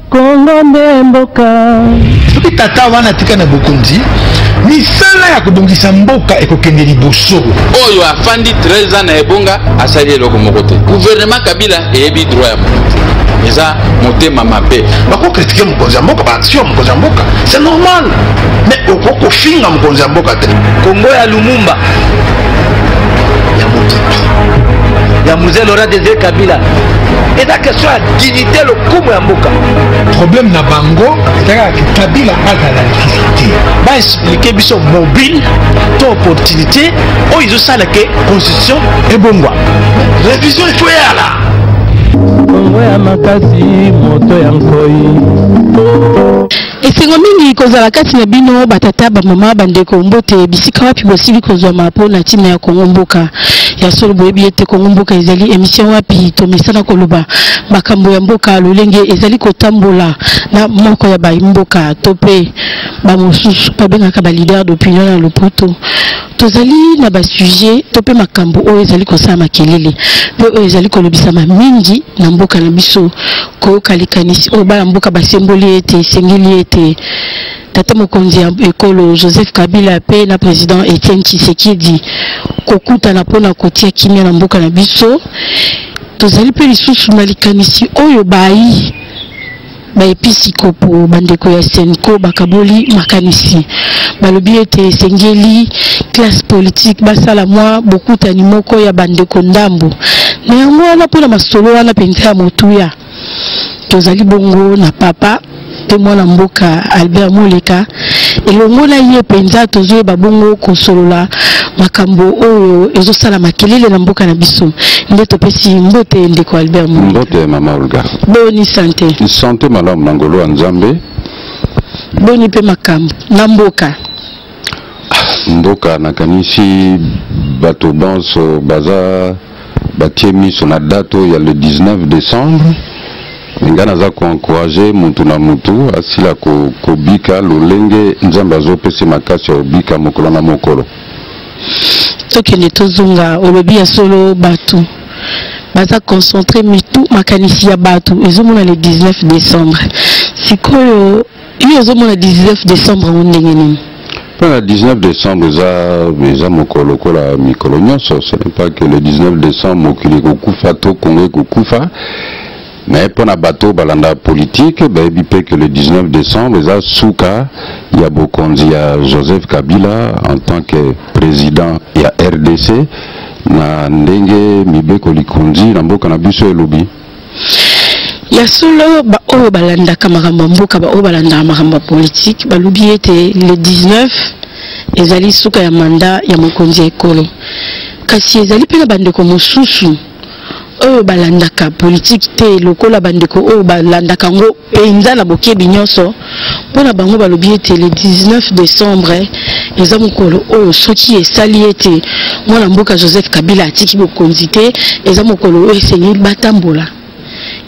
kongo nde mboka soki tata wana atika na bokonzi misala ya kobongisa mboka ekokende liboso oyo afandi 13 ans na ebonga asali eloko moko te guvernema kabila eyebi droit ya moto eza motema mabe bako kritike mokonzi ya mboka baaction ya mokonzi ya mboka c'est normal mais okoki kofinga mokonzi ya mboka te kongo ya lumumba ya mokipi ya muze lora desire kabila eza question ya dignité lokumu ya mboka problème na bango ezalaka ke kabila azala lisusu te baexplike biso mobile to opportunité oyo ezosala ke constitution ebongwa révision ekoyala Kongo ya makasi moto ya nkoi esengo mingi kozala kati na bino batata bamama bandeko mbote bisika wapi bosili kozwama mpo na ntina ya kongo mboka ya solo boyebi ete kongo mboka ezali emission wapi tomesana koloba makambo ya mboka lolenge ezali kotambola na moko ya baimboka to mpe bamosusu babengaka balider d'opinion na lopoto tozali na basujet to mpe makambo oyo ezali kosala makelele mpe oyo ezali kolobisama mingi na mboka na biso koyoka likanisi oyo bana mboka basemboli ete esengeli ete tata mokonzi ya ekolo joseph kabila mpe na président etienne tshisekedi kokutana mpo na kotia kimia na mboka na biso tozali mpe lisusu na likanisi oyo bayi baepisikopo bandeko ya senco bakaboli makanisi balobi ete esengeli classe politique basala mwa bokutani moko ya bandeko ndambo na yango wana mpo na masolo wana mpenza ya motuya tozali bongo na papa mpe mwana mboka albert moleka elongo na ye mpenza tozoyeba bongo kosolola makambo oyo ezosala makelele na mboka na biso nde topesi mbote ndeko albert mbote mama olga boni sante sante malamu na ngolo ya nzambe boni mpe makambo na mboka mboka nakanisi bato banso baza batie miso na date oyo ya le 19 décembre ngai naza koencourage mutu na mutu asila kobika lolenge nzambe azopesa makasi ya kobika mokolo na mokolo tokende tozonga olobi ya solo bato baza concentre mitu makanisi ya bato ezomona le 19 décembre sikoyo yo ozomona 19 décembre yango ndenge nini mpo na 19 décembre eza eza mokolo lokola mikolo nyonso ce n'est pas que le 19 décembre mokili ekokufa to kongo ekokufa mais mpo na bato balanda politike bayebi mpe que le 19 décembre eza suka ya bokonzi ya joseph kabila en tant que président ya rdc na ndenge mibeko likonzi na mboka na biso elobi ya solo baoyo balandaka makambo ya mboka baoyo balandaka makambo ya politike balobi ete le 19 ezali suka ya manda ya mokonzi ya ekolo kasi ezali mpe na bandeko mosusu oyo balandaka politike te lokola bandeko oyo balandaka yango mpenza na bokebi nyonso mpo na bango balobi ete le 19 décembre eza mokolo oyo soki esali ete mwana mboka joseph kabila atiki bokonzi te eza mokolo oyo esengeli batambola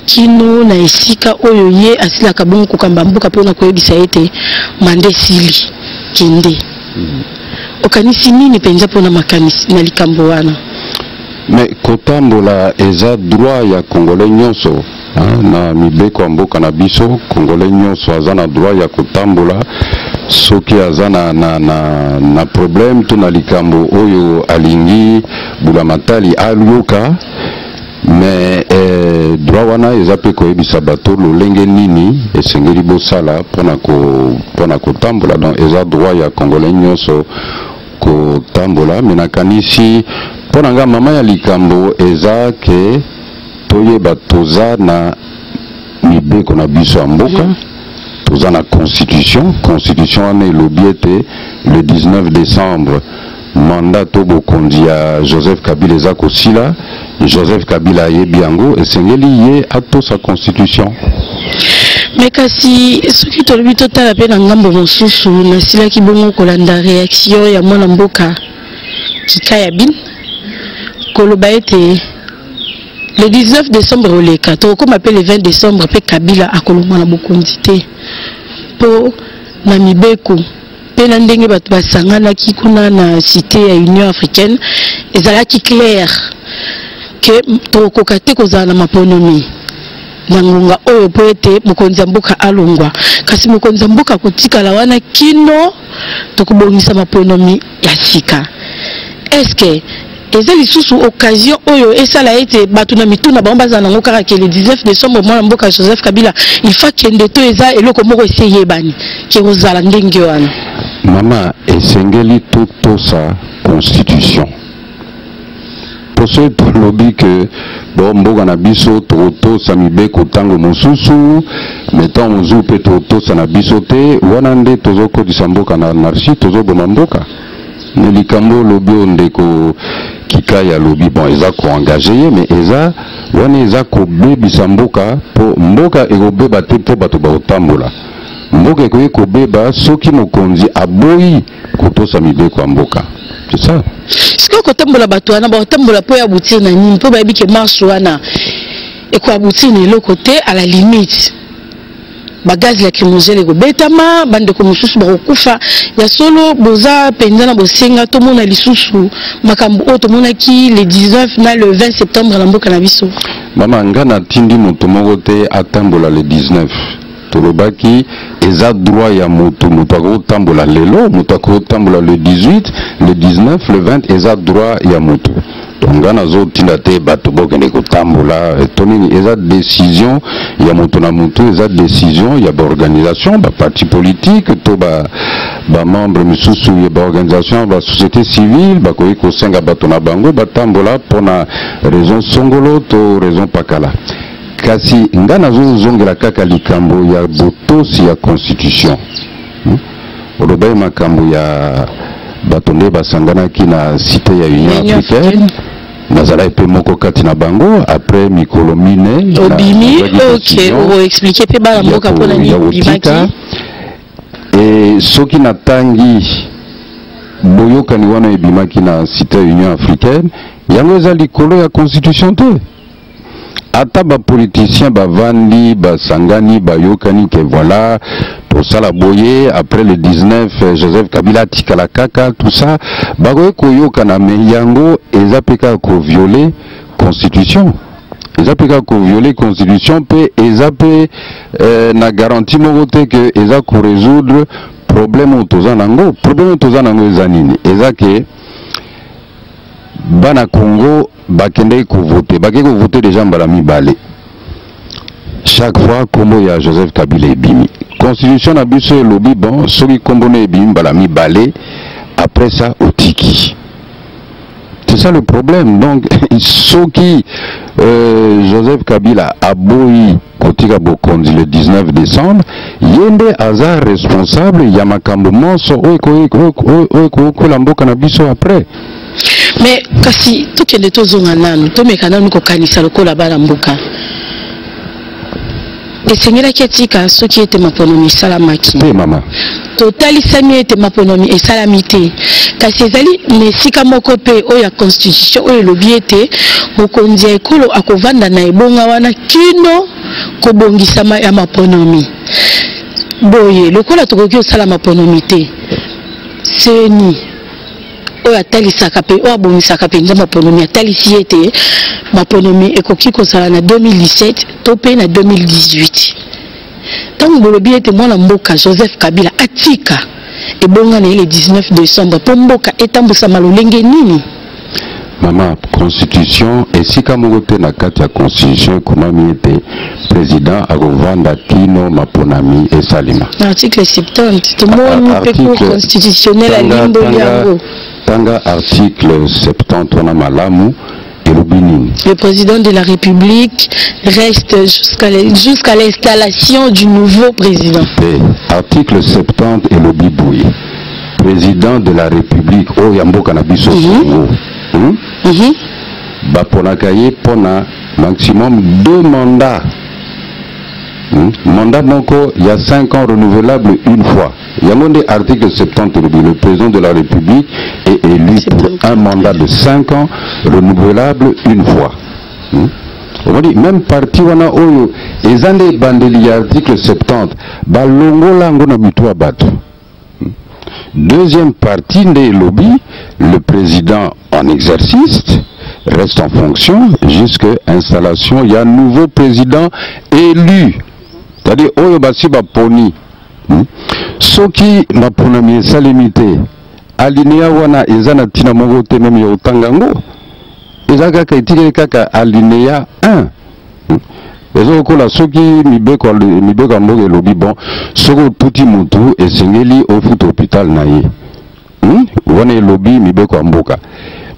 kino na esika oyo ye asilaka bongo kokamba mboka mpona koyebisa ete manda esili kende hmm. okanisi nini mpenza mpona makanisi na likambo wana me kotambola eza droit ya congolais nyonso na mibeko ya mboka na biso kongole nyonso aza na droit ya kotambola soki aza na, na, na, na problème to na likambo oyo alingi bulamatali ayoka me eh, droit wana eza mpe koyebisa bato lolenge nini esengeli bosala mpo na kotambola donc eza droit ya congolais nyonso kotambola me nakanisi mpo na ngai mama ya likambo eza ke toyeba toza na mibeko na biso ya mboka mm -hmm. toza na constitution constitution wana elobi ete le 19 décembre mandat to bokonzi ya joseph kabila eza kosila joseph kabila ayebi yango esengeli ye atosa constitution me kasi soki tolobi totala mpe na ngambo mosusu nasilaki bongo kolanda réaction ya mwana mboka kika ya bin koloba ete le 19 décembre oleka tokokoma mpe le 20 décembre mpe kabila akolongwa na bokonzi te mpo na mibeko mpe na ndenge bato basanganaki kuna na cité ya union africaine ezalaki claire ke tokokoka te kozala na maponomi na ngonga oyo mpo ete mokonzi ya mboka alongwa kasi mokonzi ya mboka akotikala wana kino tokobongisa maponomi ya sika eske eza lisusu occasion oyo esala ete bato na mitu na bango bazala nango kaka ke le 19 décembre mwana mboka joseph kabila ilfa kende to eza eloko moko esi eyebani ke kozala ndenge wana mama esengeli totosa constitution mpo soki tolobi ke bo mboka na biso tokotosa mibeko ntango mosusu me ntango mosusu mpe tokotosa na biso te wana nde tozokotisa mboka na anarchie tozoboma mboka me likambo olobi oyo ndeko kikai alobi bon eza koengage ye me eza wana eza kobebisa mboka mpo mboka ekobeba te mpo bato bakotambola mboka ekoki kobeba soki mokonzi aboyi kotosa mibeko ya mboka c'est ça sikoyo kotambola bato wana bakotambola mpo ya boutir na nini mpo bayebi ke marche wana ekoya boutir na eloko te à la limite bagaz lacrymogène ekobetama bandeko mosusu bakokufa ya solo boza mpenza na bosenga tomona lisusu makambo oyo tomonaki le 19 na le 20 septembre na mboka na biso mama nga natindi moto moko te atambola le 19 tolobaki eza droit ya moto moto akoki kotambola lelo moto akoki kotambola le 18 le 19 le 20 eza droit ya moto donc nga nazotinda te bato bokende kotambola eh, to nini eza décision ya moto na moto eza décision ya baorganisation baparti politique to bamembre ba misusu ya baorganisation ya basociété civile bakoki kosenga bato na bango batambola mpo na raison songolo to raison pakala kasi nga nazozongela kaka likambo ya botosi ya constitution hmm? olobaki makambo ya bato nde basanganaki na site ya union africaine nazalaki mpe moko kati na bango après mikolo mine obimi ok oexplike mpe bana mboka mpo na nini obimaki e soki natangi boyokani wana ebimaki na site ya union africaine yango eza likolo ya constitution te ata bapoliticien bavandi basangani bayokani ke voilà tosala boye après le 19 euh, joseph kabila atikala kaka tout ça bakoki koyokana me yango eza mpe kaka koviole constitution eza mpe kaka koviole constitution mpe eza mpe euh, na garantie moko te ke eza koresoudre problème oyo toza nango problème oyo toza nango eza nini eza ke bana congo bakendeki kovote bakei kovote deja mbala mibale chaque fois nkombo ya joseph kabila ebimi constitution na biso elobi bon soki nkombo na ebimi mbala mibale après ça otiki c'est ça le problème donc soki euh, joseph kabila aboyi kotika bokonzi le 19 decembre ye nde aza responsable ya makambo monso oyo ekokwela mboka na biso après mais kasi tokende tozonga nanu tomeka nanu kokanisa lokola bana mboka esengelaki atika soki ete maponami esalamaki te mama totalisami ete maponomi esalami te kasi ezali na esika moko mpe oyo ya constitution oyo elobi ete mokonzi ya ekolo akovanda na ebonga wana kino kobongisama ya maponomi boye lokola tokoki kosala maponomi te seni oyo atalisaka mpe oyo abongisaka mpenza maponomi atalisi ete maponomi ekoki kozala na 2017 to mpe na 2018 ntango bolobi ete mwana mboka joseph kabila atika ebonga na ye le 19 décembre mpo mboka etambwisama lolenge nini mama constitution esika moko te na kati ya constitution ekomami ete président akovanda kino maponami esalema article 70 tomoni mpe cour constitutionnel alimboli yango tanga article 70 wana malamu elobi nini le président de la république reste jusqu'à jusqu l'installation du nouveau président te article 70 elobi boye président de la république oyo ya mboka na biso mhm. congo mm -hmm. hmm? mm -hmm. baponaka ye mpo na maximum deux mandats hmm? mandat moko ya 5 ans renouvelable une fois yango nde article 70 elobi le président de la république est élu pour un mandat de 5 ans renouvelable une fois hmm? omoni même parti wana oyo eza nde ebandeli ya article 70 balongola yango na mitu ya bato hmm? deuxième partie nde elobi le président en exercice reste en fonction jusqu'à installation ya nouveau président élu c'est-à-dire oyo basi baponi Hmm? Soki maponami esalemi te, alineya wana eza na ntina moko te, meme ya otanga yango eza kaka etikeli kaka alineya 1 hmm? eza lokola soki mibeko mibeko ya mboka elobi bon soki otuti motu esengeli ofuta hopital na ye hmm? wana elobi mibeko ya mboka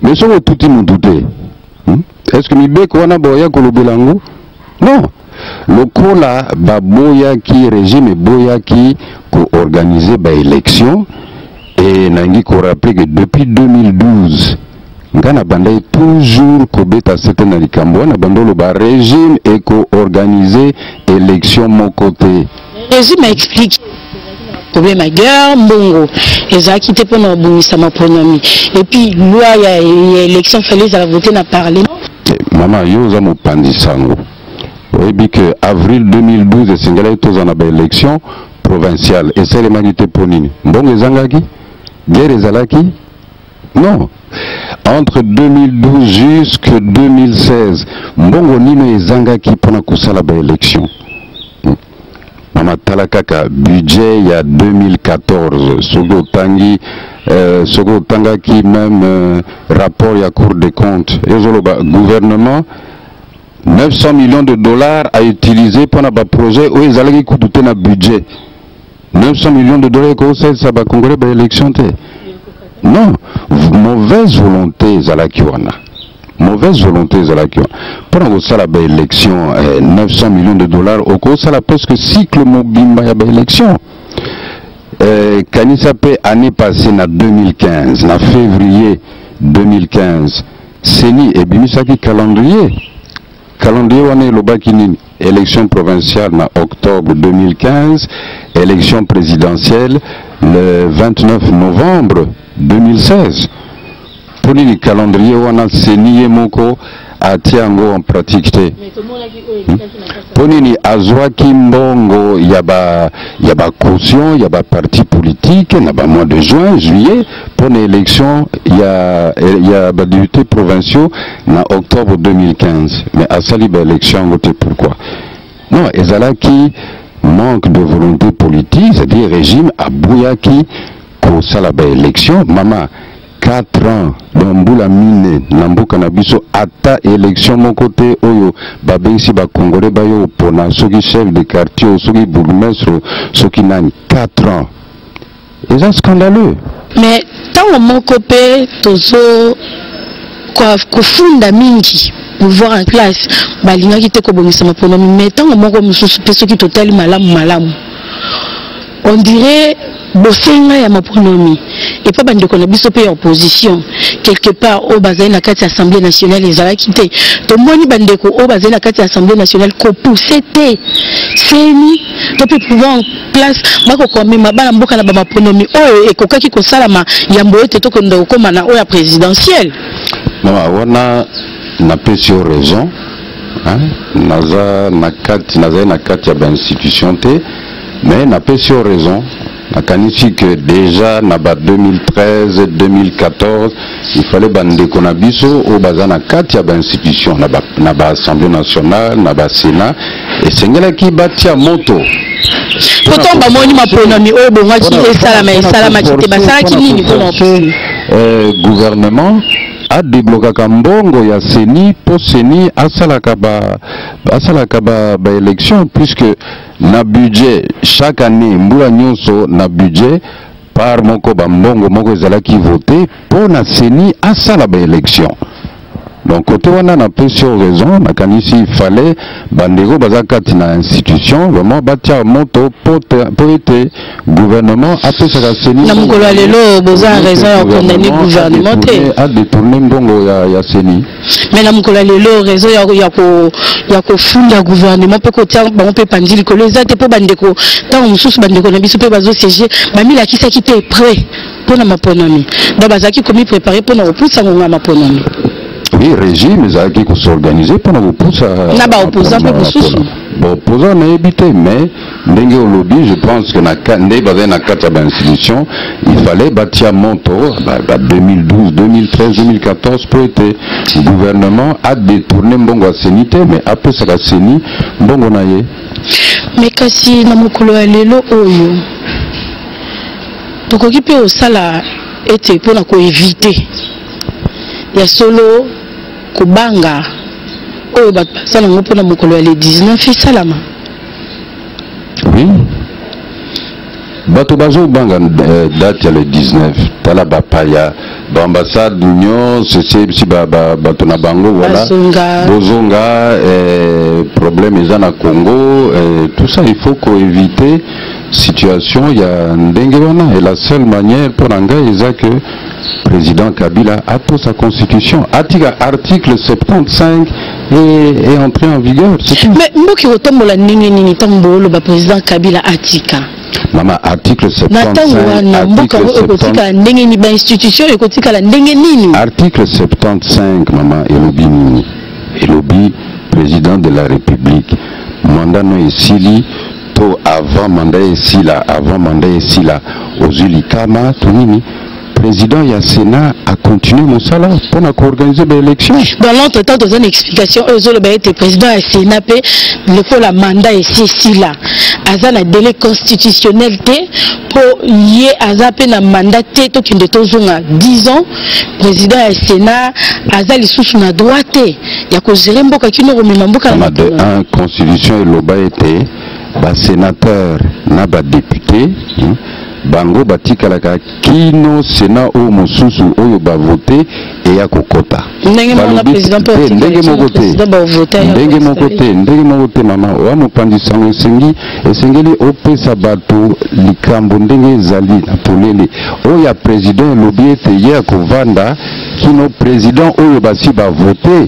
me soki otuti motu te hmm? est ce que mibeko wana boya kolobela yango non lokola baboyaki régime eboyaki koorganize baélection e nangi koraple ke depuis 2012 ngai nabandaki toujours kobeta sete na likambo wana bando oloba régime ekoorganize élection moko te Jésus m'a expliqué problème ya guerre mbongo ezalaki te mpo na kobongisa maponomi epuis loi ya élection fale ezala vote na parlement mama yo oza mopanzi sango oyebi ke avril 2012 esengelaki tozala na baélection provinciale esalemaki te mpo nini mbongo ezangaki guerre ezalaki Non. Entre 2012 jusque 2016, mbongo nino ezangaki mpona kosala ba élection hmm. mama tala kaka budget ya 2014 soki otangi euh, soki otangaki même euh, rapport ya cour des comptes ezoloba gouvernement 900 millions de dollars à utiliser pour un projet où ils allaient écouter un budget. 900 millions de dollars ekosalisa bakongole ba élection te non mauvaise volonté ezalaki wana mauvaise volonté ezalaki wana mpo na kosala baélection eh, 900 millions de dollars okosala presque cycle mobimba ya baélection eh, kanisa mpe année passée na 2015 na février 2015 seni ebimisaki calendrier Calendrier wana elobaki nini? Election provinciale na octobre 2015, election présidentielle le 29 novembre 2016. Pour nini calendrier wana seni ye moko atia yango en pratique te hmm? mpo nini azwaki mbongo ya ba ya ba caution ya ba parti politique na ba mois de juin juillet mpo na election ya, ya badepute provinciaux na octobre 2015 mais asali baélection yango te pourquoi non ezalaki manque de volonté politique c'est-à-dire régime aboyaki kosala baélection mama 4 ans donc mbula mine na mboka na biso ata élection moko te oyo babengisi bakongole bayo opona soki chef de quartier soki bourgmestre soki nani 4 ans eza scandaleux mais ntango moko mpe tozo kofunda mingi pouvoir en place balingaki te kobongisa maponomi mais ntango moko mosusu mpe soki totali malamu malamu on dirait bosenga ya maponomi epa bandeko na biso mpe ya opposition quelque part oyo bazali na kati ya assemblée nationale ezalaki te tomoni bandeko oyo bazali na kati ya assemblée nationale kopousse te seni to mpe pouvoir en place bakoka komema bana mboka na bamaponomi oyo ekokaki kosalama yambo ete tokenda kokóma na oyo ya présidentielle mama wana napesi yo raison naza na kati nazali na kati ya bainstitution te mais napesi yo raison nakanisi que déjà na ba 2013 2014 il fallait bandeko na biso oyo baza na kati ya bainstitution na baassemblée ba nationale na basénat esengelaki batia moto pourtant bamoni maponami oyo ebongaki esalama esalamaki te basalaki nini mpona euh, gouvernement adeblokaka mbongo ya seni mpo seni asalaka ba, asalaka ba, ba élection puisque na budget chaque année mbula nyonso na budget par moko bambongo moko ezalaki vote mpo na seni asala baélection donc kote wana na pesi yo raison nakanisi ifale bandeko baza kati na institution vraiment batia moto mpo ete gouvernement apesaka seni na mokolo ya lelo boza raison ya kondamne gouvernement te adetourne mbongo ya, ya seni mais na mokolo ya lelo raison ya, ya, ko, ya kofunda gouvernement mpe kotia bango mpe panzi likolo eza te mpo bandeko ntango mosusu bandeko na biso mpe bazosiege bamilakisaki te près mpo na maponami donc bazalaki komiprepare mpo na kopusa ngongo ya maponami oui régime ezalaki kosorganize mpo na kopusa na baopposant mpe mosusu baopposant nayebi te mais ndenge olobi je pense que na nde bazali na kati ya bainstitution il fallait batia moto ba, ba 2012 2013 2014 mpo ete gouvernement adetourne mbongo ya seni te mais apesaka seni mbongo na ye me kasi na mokolo ya lelo oyo tokoki mpe kosala ete mpo na koevite ya solo kobanga oyo bato baza nango mpo na mokolo ya le 19 esalama oui bato bazobanga euh, date ya le 19 tala bapaya baambassade nyonso esebisi bato na bango voilà bozonga euh, problème eza na congo euh, tout ça il faut koeviter situation ya ndenge wana et la seule manière mpo na ngai eza que président kabila atosa constitution atika article 75 est entré en vigueur. Mais Mboki Otombola Nini Nini Tambo, le président Kabila Atika. Maman, article 75. Article 75, maman, Elobi Nini. Elobi, président de la République. Mandat non esili, to avant mandat esila, avant mandat esila, ozuli kama, to nini. président ya sénat a continué mon mosala pour na koorganize baélection dans l'entre temps toza na explication oyo ezoloba ete président ya sénat mpe lokola mandat esi esila aza na délai constitutionnel te mpo ye aza mpe na mandat te tokende tozonga 10 ans président ya sénat aza lisusu na droit te ya kozere mboka kino komema mboka na matuna constitution eloba ete basénateur na badepute hmm, bango batikalaka kino sena oyo mosusu oyo bavote eya kokota ndenge moko te ndenge moko te ndenge moko te mama oya mopanzi sango esengi esengeli opesa bato likambo ndenge ezali na polele oyo ya president elobi ete ye akovanda kino president oyo basi bavote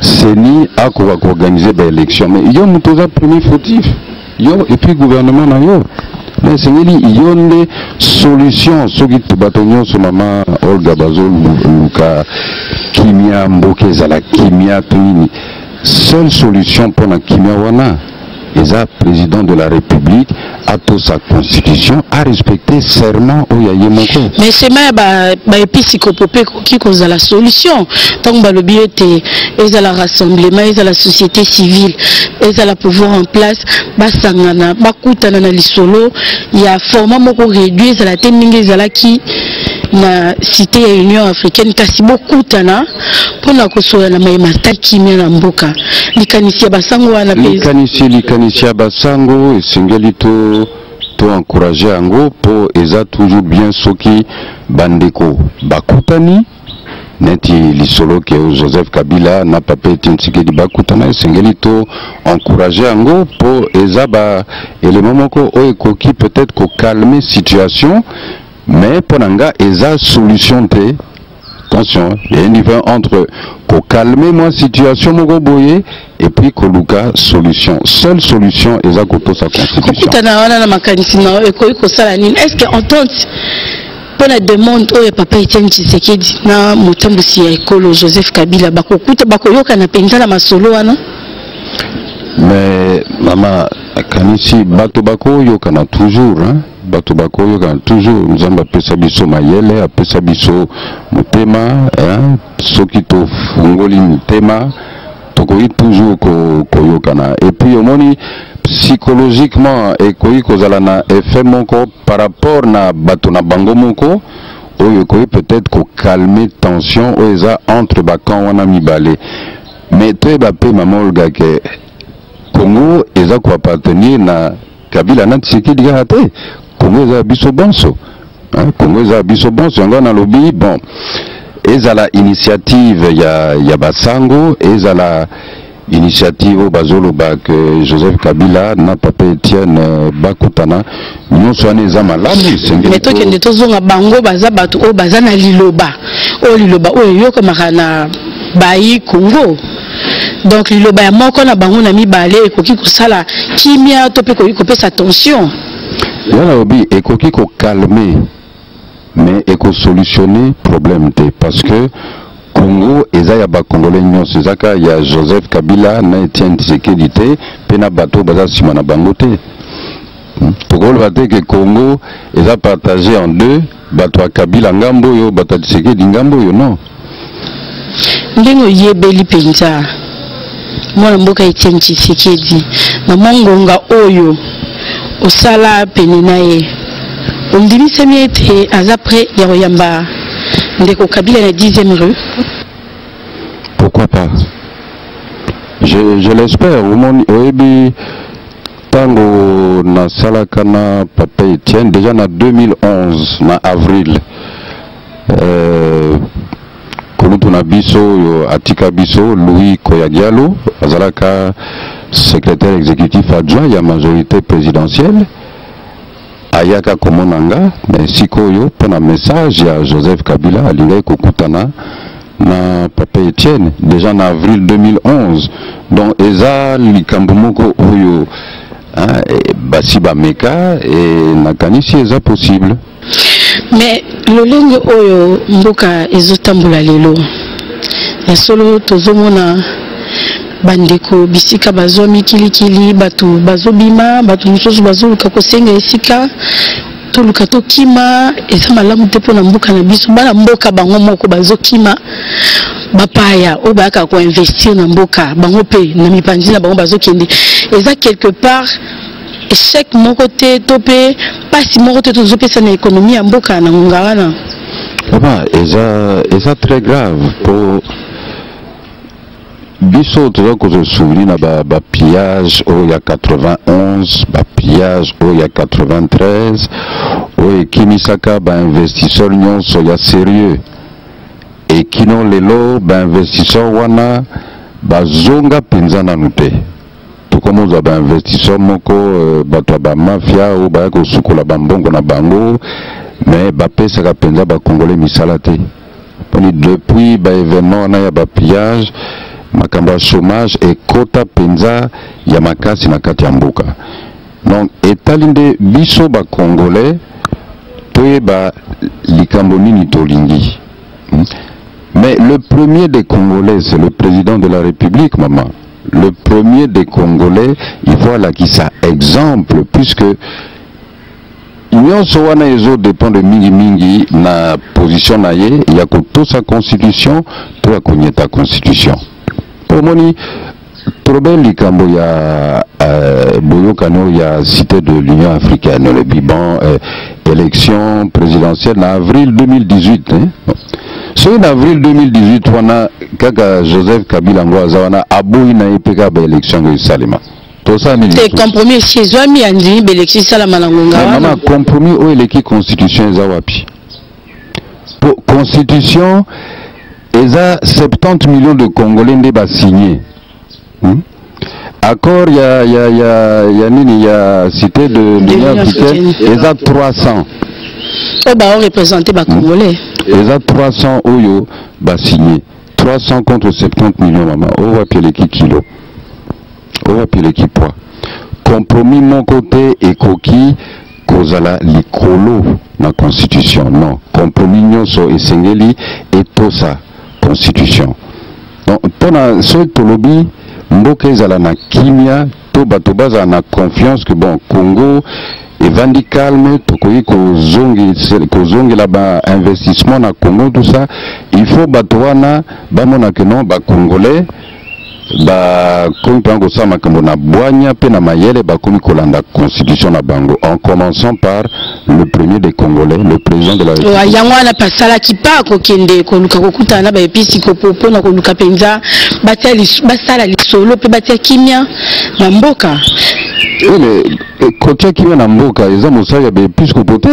CENI akoka ko organiser ba élection mais yo moto oza premier fautif yo et puis gouvernement na yo mais esengeli yo nde solution soki bato nyonso mama olga bazoluka kimia mboka ezala kimia to nini seule solution mpo na kimia wana eza président de la république sa constitution a respecté serment oyo ya ye moko mais sema ya baepisikopo mpe ekoki kozala solution ntango balobi ete ezala rassemblement ezala société civile ezala pouvoir en place basangana bakutana na lisolo ya format moko réduit ezala te ndenge ezalaki na cité ya union africaine kasi bokutana mpo na kosola na mai mata kimia na mboka likanisi ya basango wana mpe likanisi likanisi ya basango esengeli to to encourage yango mpo eza toujours bien soki bandeko bakutani neti lisolo ke joseph kabila na papa etienne tsikedi bakutana esengeli to encourage yango mpo eza ba elema moko oyo ekoki peut-être kokalme situation mais mpo na nga eza solution te attention il y a une différence entre calmer moi situation moko boye et puis koluka solution seule solution eza kotosa constitution kokutana wana na makanisi na yo ekoki kosala nini est ce que entente mpo na demande oyo papa etienne tshisekedi na motambwisi ya ekolo joseph kabila bakokuta bakoyokana mpenza na masolo wana mais mama akanisi bato bakoyokana toujours hein? bato bakoyokana toujours nzambe apesa biso mayele apesa biso motema hein? soki tofungoli motema tokoki toujours koyokana ko epuis omoni psychologiquement ekoki kozala na effet moko par rapport na bato na bango moko oyo ekoki peut-être kokalme tension oyo eza entre bacamp wana mibale mais toyeba mpe mama olga ke congo eza koappartenir na Kabila na Tshisekedi kaka te, Congo eza biso bonso. Hein, Congo eza biso bonso yango nalobi bon ezala initiative ya ya basango ezala initiative oyo bazoloba ke joseph kabila na papa etienne euh, bakutana nyonso wana eza malamu esengeli tokende tozonga bango baza bato oyo baza na liloba oyo liloba oyo eyokamaka na bayi congo donc liloba ya moko na bango na mibale ekoki kosala kimia to mpe ekoki kopesa tension nga nalobi ekoki kokalme mais ekosolutionne problème te parce que congo eza ya bakongole nyonso eza kaka ya joseph kabila na etienne tshisekedi te mpe na bato baza nsima na bango te hmm? tokoloba te ke congo eza partage en deux bato ya kabila ngambo oyo bato ya tshisekedi ngambo oyo non ndenge oyebeli mpenza mwana mboka etienne tshisekedi na mwa ngonga oyo osala pene na ye ondimisami ete aza pre ya koyamba ndeko kabila na 10e rue pourquoi pas je, je l'espère omoni oyebi ntango nasalaka na papa etienne deja na 2011 na avril euh, kulutu na biso oyo atika biso louis koyagialo azalaka secrétaire exécutif adjoint ya majorité présidentielle ayaka komona nga me sikoyo mpo na message ya joseph kabila alingaki kokutana na papa etienne déjà na avril 2011 donc eza likambo moko oyo hein, eh, basi bameka e nakanisi eza possible mais lolenge oyo mboka ezotambola lelo ya solo tozomona bandeko bisika bazwa mikilikili bato bazobima bato mosusu bazoluka kosenga esika toluka tokima eza malamu te mpo na mboka na biso bana mboka bango moko bazokima bapaya oyo bayaka koinvestir na mboka bango mpe na mipanzi na bango bazokende eza quelque part échec moko te to mpe mpasi moko te tozopesa na ekonomi ya mboka na ngonga wana papa eza eza très grave mpo biso toza kozwa souvenir na ba, ba pillage oyo ya 91 ba pillage oyo ya 93 oyo ekimisaka bainvestisseur nyonso ya sérieux ekino lelo bainvestisseur wana bazonga mpenza nanu te tokomozwa bainvestisseur moko euh, bato ya bamafia oyo baya kosukola bambongo na bango me bapesaka mpenza bakongole misala te poni depuis ba événement wana ya ba pillage makambo ya chômage ekota mpenza ya makasi na kati ya mboka donc etali nde biso ba congolais toyeba likambo nini tolingi hmm? mais le premier des congolais c'est le président de la république maman le premier des congolais il faut alakisa exemple puisque nyonso wana ezo dependre mingi mingi na position na ye ya kotosa constitution to ya konyeta constitution omoni tolobe likambo ya euh, boyokani oyo ya cité de l'union africaine olobi bon euh, élection présidentielle na avril 2018 hein? soki na avril 2018 wana kaka joseph kabila ngo aza wana aboyi na ye mpe kaka baélection ngo esalema tosala nini te compromis esi ezwami ya ndimi belekisi esalama na ngonga wana mama compromis oyo eleki constitution eza wapi po constitution eza 70 millions de congolais nde basigne hmm? accord ya, ya, ya, ya nini ya cité de l'union africaine eza 300 oyo baorepresente bacongolais hmm? eza 300 oyo basigne 300 contre 70 millions mama oyo wapi eleki kilo owapi le kipwa compromis moko te ekoki kozala likolo na constitution non compromis nyonso esengeli etosa constitution donc mpo na soki tolobi mboka ezala na kimia to bato bazala na confiance que bon congo evandi calme tokoki kozongela bainvestissement na congo tout ça il faut bato wana bamona que non bacongolais bakomi mpenza kosala makambo na bwanya mpe na mayele bakomi kolanda constitution na bango en commençant par le premier des congolais le président de la république yango wana pasalaki mpa kokende koluka kokutana na baepisikopo mpo na koluka mpenza basala lisolo mpe batia kimia na mboka oui mais eh, kotia kimia na mboka eza mosala ya baepisikopo te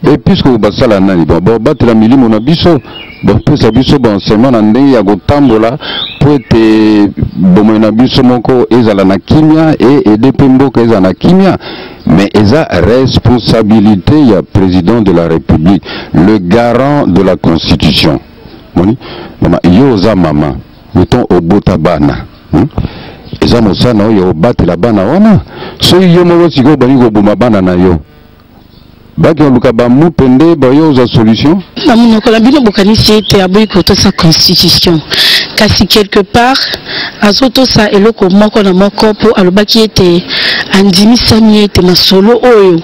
episkopo basala nani bon babatela milimo na biso bapesa biso bansema na ndenge ya kotambola mpo ete bomoi na biso moko ezala na kimia e ede mpe mboka ezala na kimia mais eza responsabilité ya président de la république le garant de la constitution moni mama yo oza mama meton obota bana hmm? eza mosala na oyo obatela bana wana soki yo moko sikoyo obandi koboma bana na yo bakoluka bamupe nde bayo ozwa solution na monoko na bino bokanisi ete aboyi kotosa constitution kasi quelque part azotosa eloko moko na moko mpo alobaki ete andimisami ete masolo oyo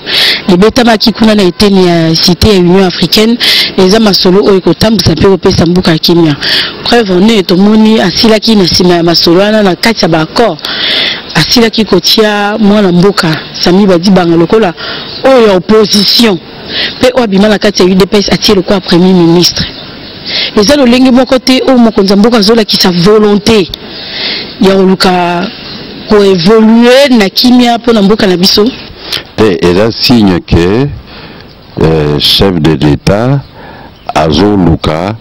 ebetamaki kuna na eteni ya site ya union africaine eza masolo oyo ekotambwisa mpe kopesa mboka ya kimia preuve en est tomoni asilaki na nsima ya masolo wana na kati ya baaccord asilaki kotia mwana mboka Sami Badibanga lokola oyo ya opposition mpe oyo abima na kati ya udps atie lokola premier ministre eza lolenge moko te oyo mokonzi ya mboka azolakisa volonté ya koluka koevolue na kimia mpo na mboka na biso te eza signe ke euh, chef de l'etat azoluka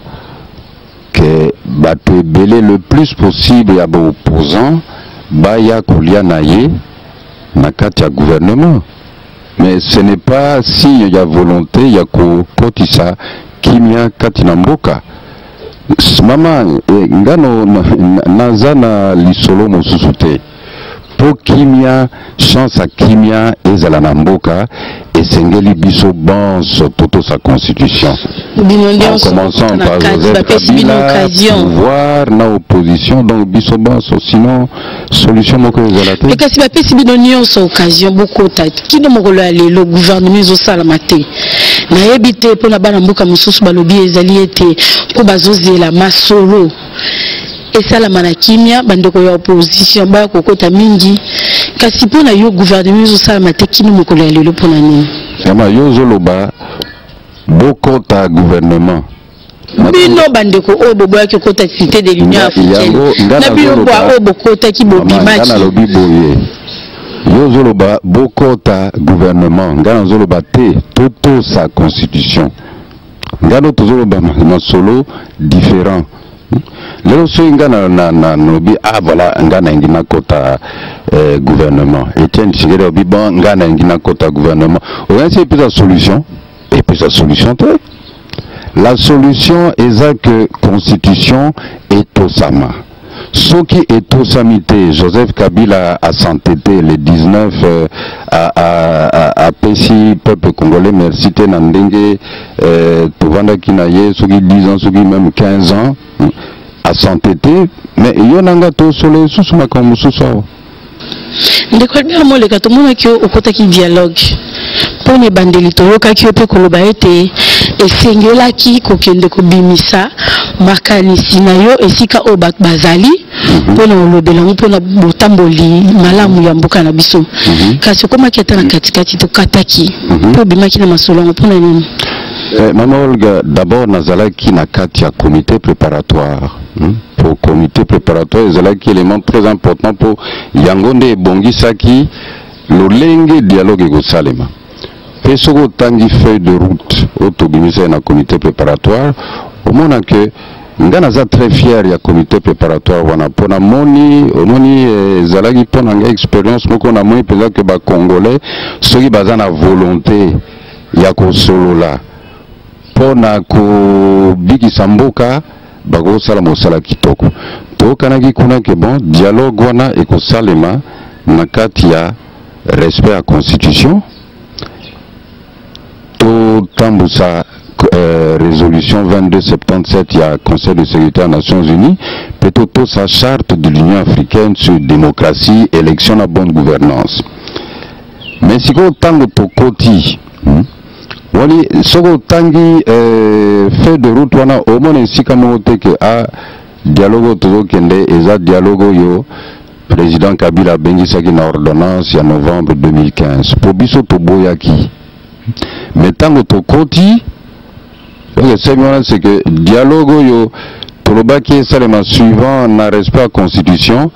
que bato ebele le plus possible ya baopposant baya kolia na ye na kati ya gouvernement mais ce n'est pas signe ya volonté ya kokotisa kimia kati na mboka mama eh, ngano naza na lisolo mosusu te mpo kimia chance ya kimia ezala na mboka esengeli biso banso totosa constitution en commençant par joseph kabila pouvoir na opposition donc biso banso sinon solution moko ezala te kasi bapesi bino nyonso occasion bokota kino mokolo ya lelo gouvernement ezosalama te nayebi te mpo na bana mboka mosusu balobi ezali ete mpo bazozela masolo esalama na kimia bandeko ya opposition baya kokota mingi kasi mpo na yo gouvernement ezosalama te kino mokolo ya lelo mpo na nini yama yo ozoloba bokota gouvernement bino bandeko oyo boboyaki kokota cité de l'union africaine na bino bwa oyo bokotaki bobimaki nalobi boye yo ozoloba bokota gouvernement ngai nazoloba te totosa constitution ngalo tozoloba masolo différent lelo soki nga nalobi ah voilà nga nalingi nakota eh, gouvernement etienne tshisekedi alobi bon nga nalingi nakota gouvernement okanisi epesa solution epesa solution te la solution eza que constitution etosama soki etosami te joseph kabila asante te le 19 euh, apesi peuple congolais merci te na ndenge euh, tovandaki na ye soki 10 ans soki même 15 ans asante te mais yo na nga tosolo esusu makambo mosusu awa ndeko albert moleka tomonaki yo okotaki dialogue mpo na ebandeli toyokaki yo mpe koloba ete esengelaki kokende kobimisa makanisi na yo esika oyo bato bazali mhm. mpo na kolobela yango mpo na botamboli malamu ya mboka na biso mhm. kasi okomaki ata na katikati tokataki mhm. mpe obimaki na masolo yango mpo na nini eh, mama olga d'abord nazalaki na kati ya comité préparatoire Hmm? po comité préparatoire ezalaki élément très important mpo yango nde ebongisaki lolenge dialogue ekosalema mpe soki otangi feuille de route oyo tobimisaki na comité préparatoire omona ke ngai naza très fier ya comité préparatoire wana mpo namoni omoni eh, ezalaki mpo na ngai expérience moko namoni mpenza ke bacongolais soki baza na volonté ya kosolola mpo na kobikisa mboka bakosala mosala kitoko. Toyokanaki kuna ke bon dialogue wana ekosalema na kati ya respect ya constitution, totambusa euh, résolution 2277 ya Conseil de sécurité ya Nations Unies mpe totosa charte de l'Union africaine sur démocratie, élection na bonne gouvernance. Mais sikoyo ntango tokoti hmm? wani soki otangi eh, fait de route wana omona esika moko te ke a ah, dialogue oyo tozokende eza dialogue oyo président kabila abengisaki na ordonnance ya novembre 2015 mpo biso toboyaki me ntango tokoti donc esengi wana c'est que dialogue oyo tolobaki esalema suivant na respect ya constitution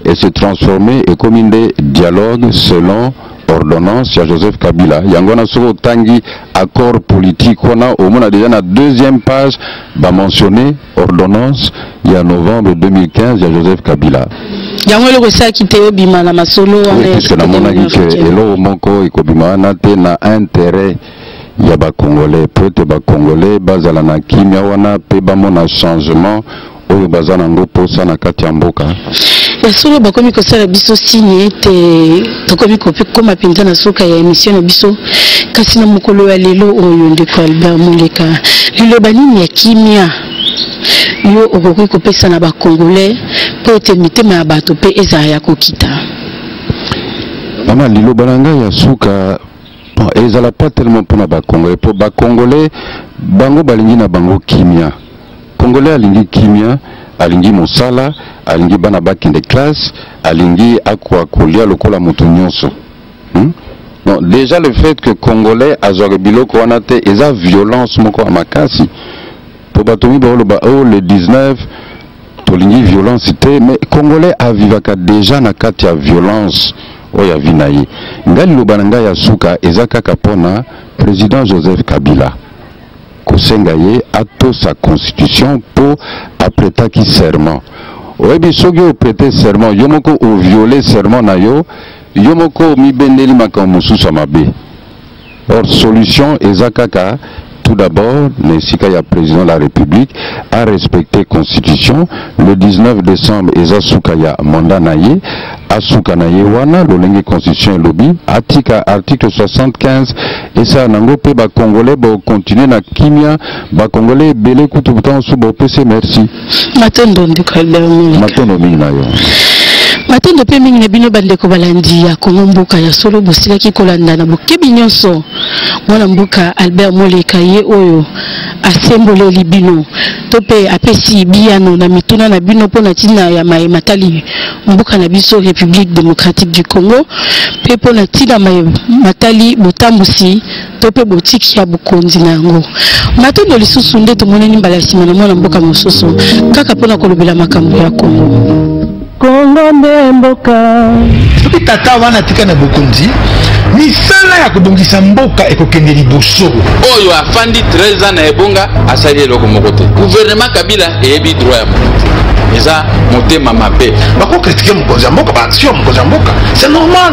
et se transformer ekomi nde dialogue selon ordonnance ya joseph kabila yango wana soki otangi accord politique wana omona deja na deuxième page bamentionne ordonnance ya novembre 2015 ya joseph kabila yango eloko esalaki te obima na masolo wana puisque namonaki ke eloko moko ekobima wana te na intérêt ya ba congolais mpo ete ba congolais bazala na kimia wana mpe bamona changement oyo baza na ngo posa na kati ya mboka ya solo bakomi kosala biso signe ete tokomi kokoma mpenza na suka ya emission na biso kasi na mokolo ya lelo oyo ndeko albert moleka liloba nini ya kimia yo okoki kopesa na bacongolais mpo ete mitema ya bato mpe ezala ya kokita mama liloba na ngai ya suka non ezala pas tellement mpona bacongolais mpo bacongolais bango balingi na bango kimia congolais alingi kimia alingi mosala alingi bana bakende classe alingi akoka kolia lokola moto nyonso hmm? non déjà le fait que congolais azwaka biloko wana te eza violence moko ya makasi po bato mingi baoloba o oh, le 19 tolingi violence te mais congolais avivaka déjà na kati ya violence oyo ya vi na ye ngai liloba na ngai ya suka eza kaka mpo na président joseph kabila kosenga ye atosa constitution mpo apretaki serment oyebi soki oprete serment yo moko oviole serment na yo yo moko omibendeli makambo mosusu ya mabe Or solution eza kaka tout d'abord na esika ya président de la république a respecter constitution le 19 décembre eza suka ya mandat na ye asuka na ye wana lolenge constitution elobi atika article 75 esala nango mpe bacongolais bokontinue na kimia bacongolais ebele kutu ntango mosusu bopese merci matondo ndeko albert moleka matondo mingi na yo matondo mpe mingi na bino bandeko balandi ya kongo mboka ya solo bosilaki kolanda na bokebi nyonso mwana mboka albert moleka ye oyo asemboleli bino to mpe apesi biyano na mituna na bino mpo na ntina ya maye matali mboka na biso république démocratique du congo mpe mpo na ntina maye matali botambwisi to mpe botiki ya bokonzi na yango. Matondo lisusu nde tomonani mbala ya nsima na mwana mboka mosusu kaka mpo na kolobela makambo ya Kongo. Kongo nde mboka. Soki tata wana atika na bokonzi, misala ya kobongisa mboka ekokende liboso. Oyo afandi 13 ans na ebonga asali eloko moko te. Gouvernement Kabila eyebi droit ya moto te. Eza motema mabe. Bakokritike mokonzi ya mboka, baaction ya mokonzi ya mboka, c'est normal.